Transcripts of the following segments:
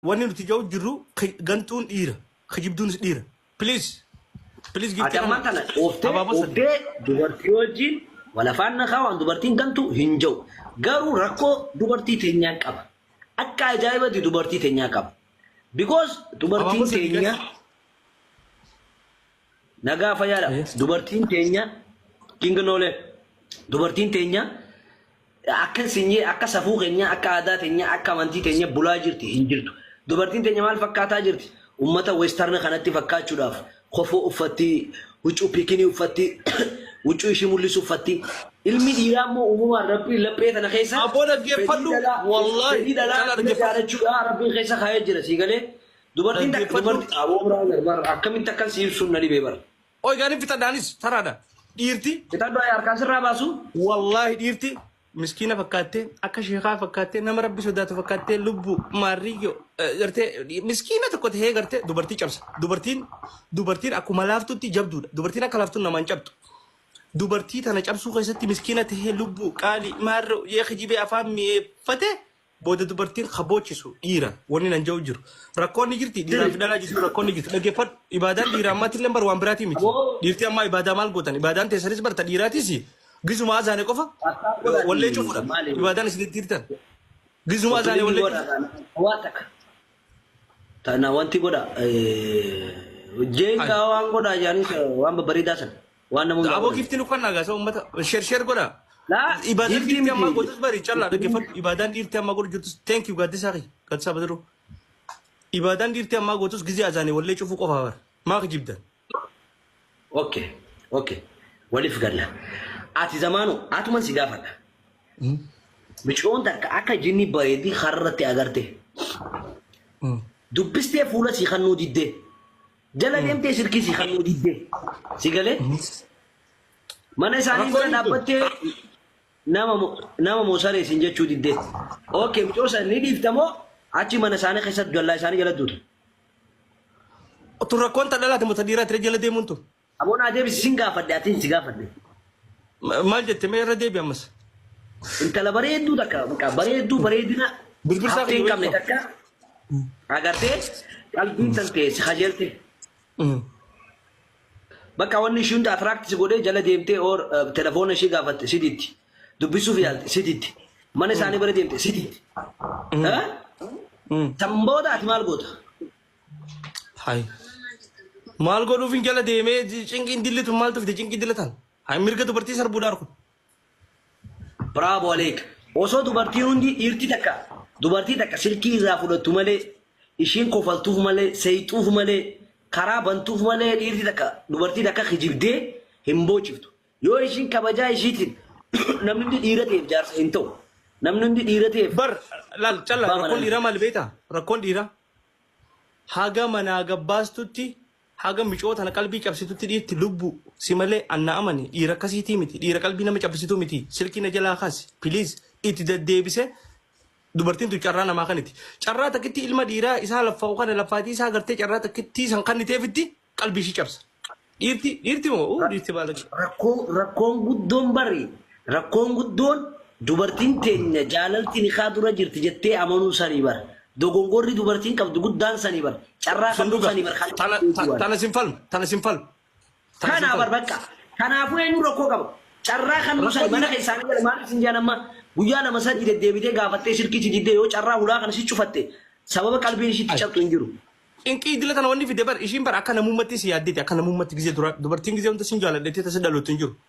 Wanni nuti ja'u jirru ki- gantuun dhiira. Kijibduunis dhiira. Please. Please give Ati ammaan kana cuuftee Abaaboo sadii. cuuftee dubartii wajjin wal afaan nakaa waan dubartiin gantu hin jiru. Garuu rakkoo dubartii teenyaa qaba. Akka ajaa'ibatti dubartii teenyaa qaba. Because Abaaboo dubartiin sadii teenya guys. Nagaa fayyaadha. Yes. Dubartiin teenya King Noolee. Dubartiin teenya akka sinyee akka safuu keenya akka aadaa teenya akka amantii teenya bulaa jirti hin jirtu. Dubartiin teenya maal fakkaataa jirti? Uummata weestarna kanatti fakkaachuudhaaf kofoo uffatti, huccuu pikinii uffatti, huccuu ishii mul'isu uffatti. Ilmi dhiiraa immoo uumamaan rabbiin laphee tana keessa Abboo dhaggeeffadhu. fedhii dhalaa- Wallaahi. fedhii dhalaa Kan dhaggeeffadhu. jaalachuudhaa rabbiin keessa kaa'ee jira sii galee. Dubartiin takka Dhaggeeffadhu. dubarti aboo biraa gar bar akkamitti akkan si ibsuun na dhibee bar. Qoy gaanin fixadha anis taraadha. Dhiirti Fixadhu ayyaa harkaan sirraa baasu. wallaahi dhiirti miskiina fakkaattee akka sheekaa fakkaattee nama rabbi sodaatu fakkaattee lubbuu maarrii yoo eh, gartee miskiina tokko tahee gartee dubartii cabsa. Dubartiin dubartiin akkuma laaftutti jabduudha. Dubartiin akka laaftuun namaan cabdu. Dubartii tana cabsuu keessatti miskiina tahee lubbuu qaalii maarroo yee kijibee afaan mi'eeffate Booda dubartiin ka boochisu dhiira wanni nan ja'u jiru rakkoon ni jirti dhiiraa fi dhalaa jidduu rakkoon ni jirti dhaggeeffadhu ibaadaan dhiiraa ammaatiillee bar waan biraatii miti dhiirti ammaa ibaadaa maal gootan ibaadaan teessanis barta dhiiraatiis gizuma azaane qofa wallee cufudha ibaadaan isinitti jirtan gizuma azaane wallee cufudha. Waa takka. Tana wanti godha. Jeengaa waan godha jaanis waan babbareedaa sana. Waan namoonni Aboo daawwatan. giiftiin uffan nagaa isa uummata share share godha. Laa, Ibaadaan giiftii dhiirti ammaa miti. gootus bari callaa dhaggeeffadhu. Ibaadaan dhiirti ammaa godhu jirtus thank you gaaddisaa kee gaaddisaa badiruu. Ibaadaan dhiirti ammaa gootus gizee azaanii wallee cufuu qofaa bara. Maa kijibdan. Okay. Okay. Waliif galla. Ati zamaanoo atuman si gaafadha. Miciyoon takka akka jinni bareedii hararratti agarte. Dubbistee fuula si kannuu diddee. Jala deemtee sirkisi kan nuu diddee. Si galee? Mana isaanii Rakkoo bira hin dhaabbattee nama mo- nama moo saree isin jechuu diddee. Okay mucoo san ni dhiifta moo achi mana isaanii keessatti dallaa isaanii jala duuta. Tun rakkoon ta dhalaate mata dhiiraa ture jala deemuun tun. Aboo naa deebisi sin gaafadhe atiin si gaafadhe. Ma- Maal jette mee irra deebi ammas. Intala bareedduu takka maqaa bareedduu bareedina Birbirsaa haftee hin qabne keenya takka agartee qalbiin tantee si kajeelte bakka wanni ishii hunda atiraakti si godhee jala deemtee oor telefoona ishii gaafatte siditti dubbisuuf yaalte siditti mana isaanii bira deemte siditti tan booda ati maal goota Hay. Maal godhuuf hin jala deemee cinqiin dilli tun maal tufte cinqii dilla tan. Hay mirga dubartii sarbuudhaar kun. Bravo Alek. Osoo dubartiin hundi dhiirti takka dubartii takka silkii irraa fudhattu malee ishiin kofaltuuf malee seeyxuuf malee karaa bantuuf malee dhiirti takka dubartii takka kijibdee hin boochiftu. Yoo ishiin kabajaa ishiitiin namni hundi dhiira ta'eef jaarsa hin ta'u. Namni hundi dhiira ta'eef Bar laal calla abbaa rakkoon manaa hin dhiiraa ta'u. maal beektaa? Rakkoon dhiiraa haga manaa gabbaastutti Haga micoo tana qalbii cabsitutti dhiirti lubbuu si malee an na amani dhiira akkasiitii miti dhiira qalbii nama cabbisituu miti silkii na jalaa kaasi please itti daddeebise dubartiin tun carraa namaa kaniti carraa takkittii ilma dhiiraa isaa laffa'u kana laffaatii isaa gartee carraa takkittii san kanniteefitti qalbii ishii cabsa dhiirti dhiirti moo uu dhiirti baalage. Rakkoo rakkoon guddoon bari Rakkoon guddoon dubartiin teenya jaalalti nikaa dura jirti jettee amanuu sani bar. Dogongorri dubartiin qabdu guddaan sani bar. Carraa Sun qabdu dhuga. sani bar. Kana Tana beekuu ta- waan. tana sin falmu. Tana sin falmu. Tana sin Kanaa bar falmu. bakka. Kanaafuu eenyu rakkoo qaba? Carraa kan Rakkoo sani mana dhiira- keessaanii jala maaliif sin jedhan amma guyyaa lama sadii deddeebitee gaafattee silkii si diddee yoo carraa hulaa kana si cufatte sababa qalbiin ishiitti Ay. cabxu hin jiru. Cinqii idila tana wanni fide bar ishiin bar akka namummaatti si yaaddeti akka namummaatti gizee dura dubartiin gizee hunda sin jaaladhetti tasa dhalootti hin jiru.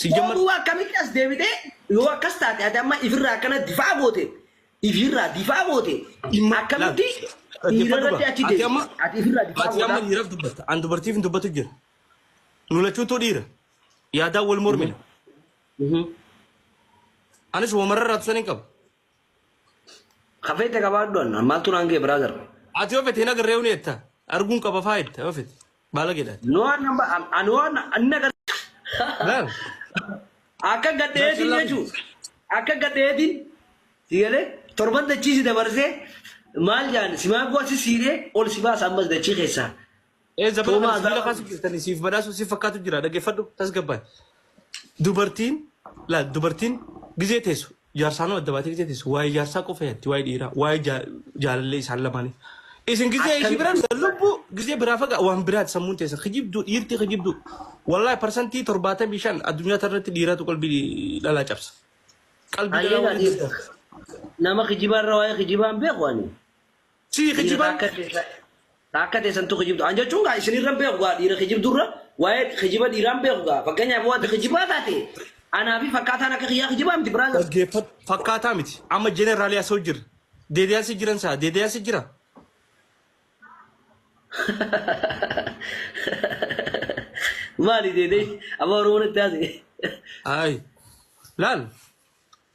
Sijjamma Yoo duuba akkamitti as deebitee yoo akkas taate ati amma ifirraa akkana difaa goote ifirraa difaa goote dhimma akkamitti laal dhiira dhaggeeffadhu irratti gaa. achi Ati deebite amma ati ifirraa difaa ati amma gootaa dhiiraaf dubbatta an dubartiif hin dubbatu jira. Nu lachuutu dhiira yaadaan wal mormina. Anis wamarra irraa tusan hin qabu. kafeete qabaadhu anna maaltu naan ga'e biraazar Ati yoo fete hin agarree ni jetta arguun qaba faa jetta yoo fete. Baalage dha. No number an anuan anna kan Laal. akka gadheetiin Mashallah. jechuun akka gadheetiin sigalee torban dachii si dabarsee maal jaan si maaguu asi siidee ol si baasa ammas dachii keessaa. Ee zabala Toomaa kana sibiila Azaaraa. kaasuu jirtanii siif badhaasuu siif fakkaatu jira dhaggeeffadhu tasgabbaan. Dubartiin laal dubartiin gizee teessu Jaarsaanuu adda baatee gisee teessi. Waa'ee jaarsaa qofa yaatti. Waa'ee dhiiraa. Waa'ee ja- jaalallee isaan lamaanii. Isin gisee ishii Akkamitti biraan dhugaa lubbuu jirti? gisee biraa fagaa waan biraati sammuun teessan. Kijibduu dhiirti kijibduu. Wallahi parsantii torbaatamii shan addunyaa tanarratti dhiiraatu qalbii dhalaa cabsa. Qalbii dhalaa Hayyee warri gaadhiisa. keessan. Nama kijibaarra waa'ee kijibaan beeku ani. Sii kijiban. Akka teessan tu kijibdu. An jechuun gaa isinirran beeku gaa dhiira kijibdurra waa'ee kijiba dhiiraan beeku gaa. Fakkeenyaaf waanti kijibaa taate anaa fi fakkaataan akka kiyyaa kijibaa miti biraazar. Dhaggeeffadhu. Fakkaataa miti. Amma jeneraalii asoo jirra. Deedeyaasi jiran isaa deedeyaasi jira. Maali deedee amma oromoon itti haase. Ayi. Laal.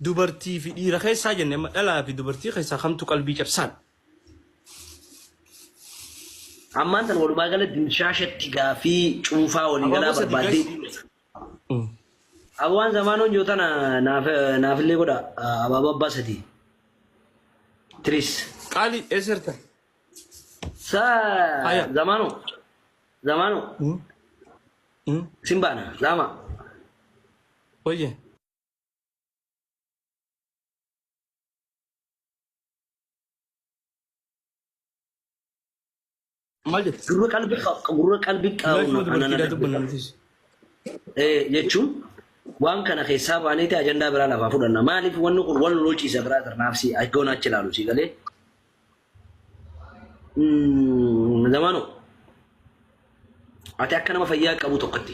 Dubartii fi dhiira keessaa jenne amma dhalaa fi dubartii keessaa kamtu qalbii cabsaan? Ammaan tan walumaa gala dimshaashatti gaafii cuunfaa walii galaa Abaaboo sadi barbaaddee gas- dhiyeessa. Abawaan zamaanoon yoo tana naaf naafillee godha abaaboo abbaa sadii. Tris. Qaali eserta. Sa Aya. zamaanoo. Zamaanoo. Sin baana. Zaamaa. Wayye. Maal jette? Gurra qalbi qa- gurra qalbi Ilaalchi qaawna wanta anana barbachiisaa dubbanna dhaggeeffadha. nutis. Eh, jechuun waan kana keessaa baaneeti ajandaa biraa lafaa fudhanna. Maaliif wanni kun wal lolchiisa biraa tarnaaf si goona achi ilaalu si galee. Mm, Zamaanoo ati akka nama fayyaa qabu tokkotti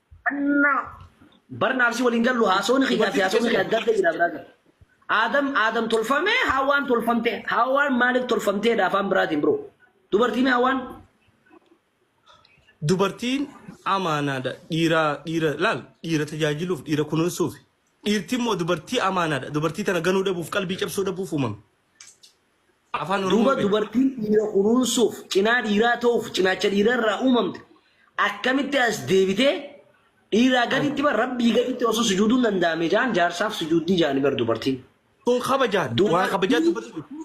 Anna barnaaf si waliin gallu haasooni kiyyaa fi haasooni kiyyaa adda adda jira biraa gara. Aadam aadam tolfamee haawaan tolfamtee haawaan maaliif tolfamteedha afaan biraatiin biroo. Dubartiin haawaan Dubartiin amaanaadha. Dhiira dhiira laal dhiira tajaajiluuf dhiira kunuunsuuf. Dhiirti immoo dubartii amaanaadha. Dubartii tana ganuu dhabuuf qalbii cabsuu dhabuuf uumame. Afaan Oromoo Duuba beektu. dubartiin dhiira kunuunsuuf, cinaa dhiiraa ta'uuf, cinaacha dhiiraa irraa uumamte akkamitti as deebitee dhiiraa gaditti bar rabbii gaditti osoo sujuuduun danda'ame jaan jaarsaaf sujuuddii jaani bar dubartiin. Kun kabajaan. Waa Dubartiin- kabajaa dubbatu jirti.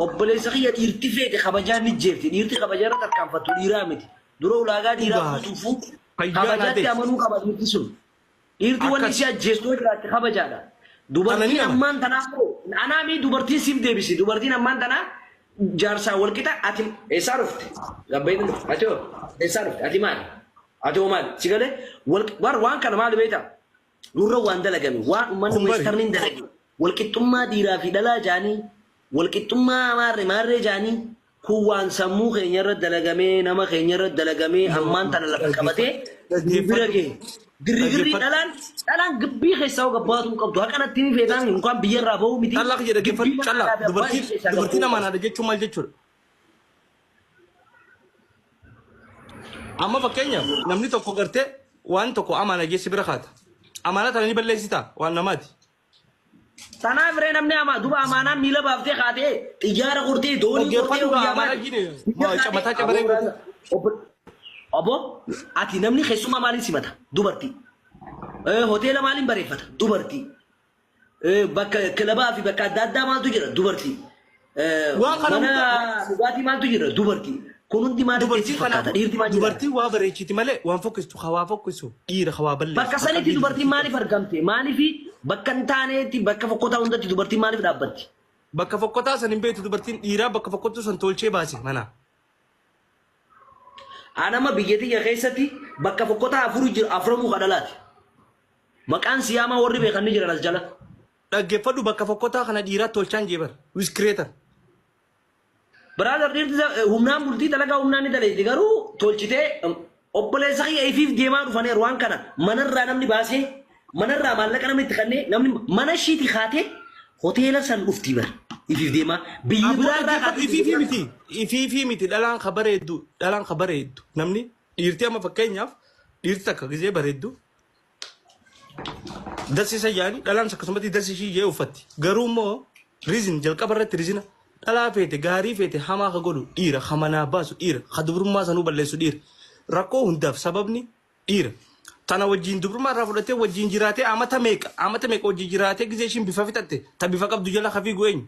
Obboleessa kiyya dhiirti feete kabajaa ni jeefti. Dhiirti kabajaa irra tarkaanfattu dhiiraa miti. Dura ulaagaa dhiiraa Dhugaa. guutuufuu Fayyaa kabajatti laatee. amanuu qaba dhiirti sun. Dhiirti wanni Akkas. isii ajjeestu yoo jiraatte kabajaadha. Qananii Dubartiin nama. ammaan tanaa hoo anaa mii dubartiin siif deebisi dubartiin ammaan tanaa jaarsaa wal qixa ati eessaa dhufte gabbayni dhufte ati hoo eessaa dhufte ati maali ati hoo maali si galee wal bar waan kana maali beektaa nurra waan dalagame waan ummanni Kun bari. weestarniin dalage wal qixxummaa dhiiraa fi dhalaa jaanii wal qixxummaa maarree maarree jaanii Kun waan sammuu keenya irra dalagamee, nama keenya irra dalagamee, Yoo ammaan tana lafa dhaggeeffadhu qabatee nu bira dhaggeeffadhu ga'e. Girrigirrii dhaggeeffadhu dhalaan, dhalaan gibbii keessaa hoga baatu hin qabdu. Haqa natti ni feetaan yookaan biyya irraa ba'uu miti. callaa kiyya Gibbii dhaggeeffadhu mana callaa haadhaa fi abbaa dubartii ishee keessaa dubartii gabba'uu namaan qabdi. haadha jechuun maal jechuudha? Amma fakkeenyaaf namni tokko gartee waan tokko amaana geessi bira kaata. Amaana tana ni balleessitaa waan namaati. Tanaaf ree namni ama duba amaanaan miila baaftee kaatee xiyyaara qortee doonii qortee Dhaggeeffadhu gaa biyyaa amana baate. gine Biyya kaatee camataa cabaree aboo godhu. raasa- obbo- Obbo ati namni keessummaa maaliin simata dubartii Eh, hoteela maaliin bareeffata dubartii Eh, bakka kilabaa fi bakka adda addaa maaltu jira dubartii Waa kana Mana hunda- dhugaatii maaltu jira? Dubartii. Kun hundi maal itti Dubartiin fakkaata? kanaafuu Dhiirti maal jira? dubartiin waa bareechiti malee waan fokkistu ka waa fokkisu dhiira ka waa balleessu. Bakka sanitti qalbii dubartiin dubartii maaliif argamte? Maaliif bakka hin taaneetti bakka fokkotaa hundatti dubartiin maaliif dhaabbatti? Bakka fokkotaa san hin beektu dubartiin dhiiraa bakka fokkottuu san tolchee baase mana. Anama biyya tiyya keessatti bakka fokkotaa afur jira aframuu kadhalaati. Maqaan siyaamaa warri beekan ni jiran as jala. Dhaggeffadhu bakka fokkotaa kana dhiiraatti olchaan jee bar. Wiz creator. Brother dhiirti da- eh, humnaan bultii dalagaa humnaan ni dalayti garuu tolchitee em, obboleessa kiyya ifiif deemaa dhufaneer waan kana manarraa namni baasee manarraa maallaqa namni itti kannee namni mana ishiiti kaatee hoteela san dhuftii bar ifiif deemaa biyyi Aboo biraarraa dhaggeeffadhu kaatee ifiifii miti. Ifiifii miti dhalaan ka bareeddu dhalaan ka bareeddu namni dhiirti amma fakkeenyaaf dhiirti takka gizee bareeddu Dassi isa jaani dhalaan akkasumatti dassi ishii jee uffatti. Garuu immoo riizin jalqaba irratti riizina dhalaa feete gaarii feete hamaa ka godhu dhiira ka manaa baasu dhiira ka dubrummaa sanuu balleessu dhiira. Rakkoo hundaaf sababni dhiira. Tana wajjin dubrummaa irraa fudhatee wajjin jiraatee amata meeqa amata meeqa wajjin jiraatee gizee ishiin bifa fixatte ta bifa qabdu jala ka fiigu eenyu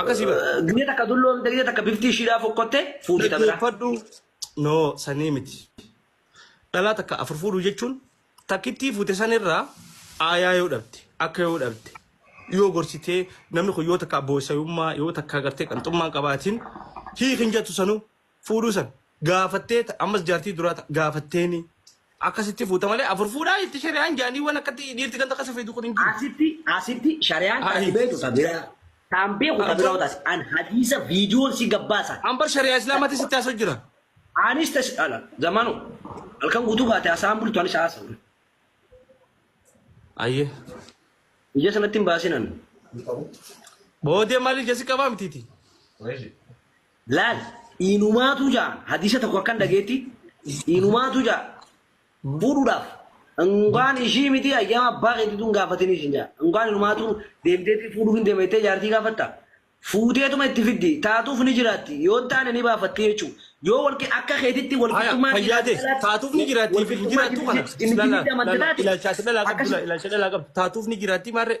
Akkasii bara. Gizee takka dulloomte gizee takka bifti ishiidhaa fokkotte fuudhi ta biraa. Dhaggeeffadhu. No sanii miti. Dhalaa takka afur fuudhu jechuun takkittii fuute sanirraa aayaa yoo dhabde akka yoo dhabde yoo gorsitee namni kun yoo takka abboosayummaa yoo takka agartee qanxummaan qabaatiin hiikin jettu sanuu fuudhuu san gaafattee ta- ammas jaartii duraa ta- gaafatteeni akkasitti fuuta malee afur fuudhaa itti shari'aan jaanii waan akkatti dhiirti ganda kasa feetu kun hin jiru. asitti asitti shari'aan kan Ayi. ati beektu ta bira kan beeku ta bira otas an hadiisa viidiyoon si gabbaasa Ambar shari'aa islaamaatiin sitti haasoo jira. anis tas ala zamanu halkan guutuu kaate haasaan bultu anis haasaan Ayyee. ija sanatti hin baasinan Boodee maal ija si qabaa mitiiti? Laal inumaatu ja hadiisa tokko akkan dhageetti inumaatu ja fuudhuudhaaf hangaan ishii miti ayyaama abbaa keetiituun gaafatin ishin ja hangaan inumaatu deemteetti fuudhuuf hin deemettee jaartii gaafatta fuuteetuma itti fiddi taatuuf ni jiraatti yoo hin taane ni baafatte jechuu yoo walqi akka keetitti Haya, walqixxummaa fayyaate. Taatuuf ni jiraatti. Hin jiraattu kana. Lala, lala, ilaalcha asirra laa qabdu, lala, ilaalcha dhalaa qabdu. Taatuuf ni jiraatti maarree.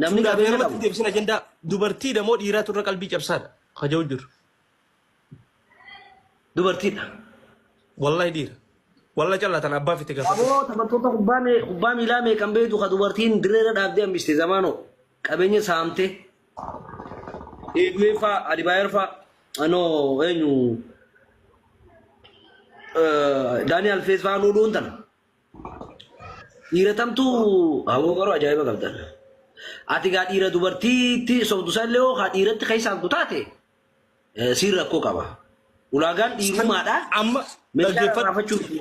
Namni Fuudhaa fi qabeenya heerumatti qabu. deebisina ajandaa dubartiidha moo dhiiraatu irra qalbii cabsaadha? Kaja'u jiru. Dubartiidha. Wallahi dhiira. Wallahi callaa tana abbaaf itti gaafadhu. Aboo taphattoota kubbaa mee kubbaa miilaa meeqan beektu ka dubartiin direera dhaabdee hambiste zamaanoo qabeenya saamte eegu'ee faa adibaayer faa anoo eenyu daaniyaal fees faa nuu dhuun tana Dhiira tamtu hawoo garuu ajaa'iba qabdan. Ati gaa dhiira dubartiitti sobdu san illee hoo haa dhiiratti keessaan kutaate eh, siin rakkoo qaba. Ulaagaan dhiirummaadha. Amma Meeshaa dhaggeeffadhu. raafachuu miti.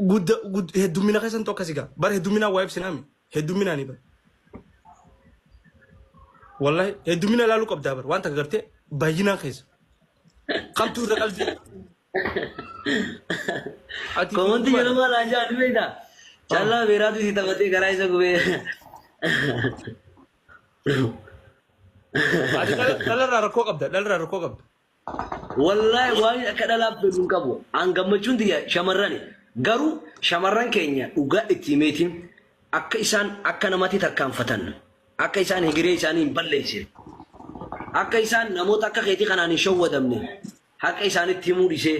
Gudda gud heddummina keessan tokko sigaa. Bara heddummina waa ibsinaami. Heddummina ni bara. Wallahi heddummina ilaaluu qabdaa bara. Wanta gartee baay'inaan keessa. Kamtu irra qalbii Ati Komanti dhuguma- jedhu maal ajaa ni beektaa? Callaa beeraatu si taphatee garaa isa gubee. Ati dhala- dhalarraa rakkoo qabda dhalarraa rakkoo qabda. Wallaahi waan akka dhalaaf beeku hin qabu. An gammachuun tiyya shamarrani. Garuu shamarran keenya dhugaa itti himeetiin akka isaan akka namatti tarkaanfatan Akka isaan hegeree isaanii hin balleessine, akka isaan namoota akka keetii kanaan hin shawwadamne haqa isaanitti himuu dhisee.